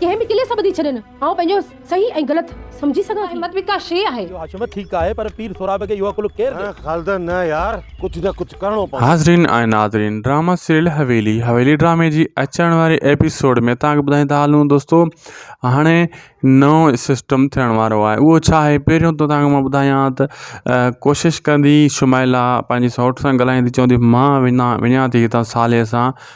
ڪنهن به قلعي سان ٻڌي ڇڏين. آئون پنهنجو صحيح ۽ غلط سمجهي سگهان ٿي. همت به ڪا شيء آهي. اهو حشمت ٺيڪ آهي پر پير سهراب کي اهو عقل ڪير ڏئي. خالده نه يار ڪجهه نه ڪجهه ڪرڻو پوندو. حاضرين ۽ ناظرين ڊراما سيريل حويلي حويلي ڊرامي جي اچڻ واري ايپيسوڊ ۾ توهان کي ٻڌائيندا هلون دوستو هاڻي نئون سسٽم ٿيڻ وارو آهي اهو ڇا آهي پهريون ته توهان کي مان ٻڌايان ته ڪوشش ڪندي شمائلا پنهنجي سئوٽ سان ڳالهائيندي چوندي مان وڃان وڃان ٿي هتان صالح سان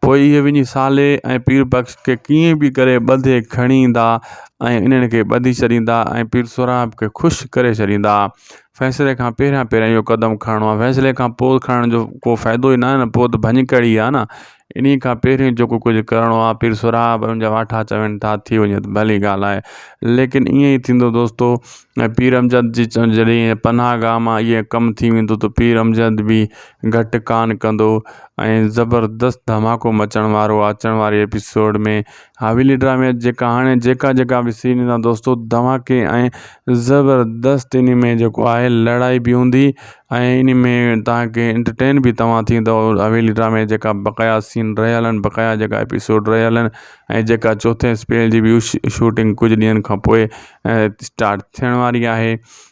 پوء اهي وڃي صالح ۽ پير بخش کي ڪيئن به ڪري ٻڌي کڻي ايندا ۽ انهن کي ٻڌي ڇڏيندا ۽ پير سهراب کي خوش ڪري ڇڏيندا. فيصلي کان پهريان پهريان اهو قدم کڻڻو آهي. فيصلي کان پوء کڻڻ جو ڪو فائدو ئي ناهي نه، پوء ته ڀڃڪڙ ئي آهي نه. انهيء کان پهريان جيڪو ڪجهه ڪرڻو آهي، پير سهراب ۽ ان جا واٺا چون ٿا ٿي وڃي ته ڀلي ڳالهه آهي. ليڪن ائين ئي ٿيندو دوستو ۽ پير امجد جي جڏهن پناهه گاهه مان ائين ڪم ٿي ويندو ته پير امجد به گهٽ ڪانه ڪندو ۽ زبردست ڌماڪو مچڻ وارو آ اچڻ واري ايپيسوڊ ۾ حويلي ڊرامي جيڪا هاڻي جيڪا جيڪا به سين ايندا دوستو ڌماڪي ۽ زبردست اني ۾ جيڪو آهي لڙائي به هوندي ۽ اني ۾ تان کي انٽرٽين به توهان ٿيندو حويلي ڊرامي جيڪا بقايا سين رهيا هلن بقايا جيڪا ايپيسوڊ رهيا هلن ۽ جيڪا چوٿين اسپيل جي به شوٽنگ ڪجهه ڏينهن کان پوء اسٽارٽ ٿيڻ واري آهي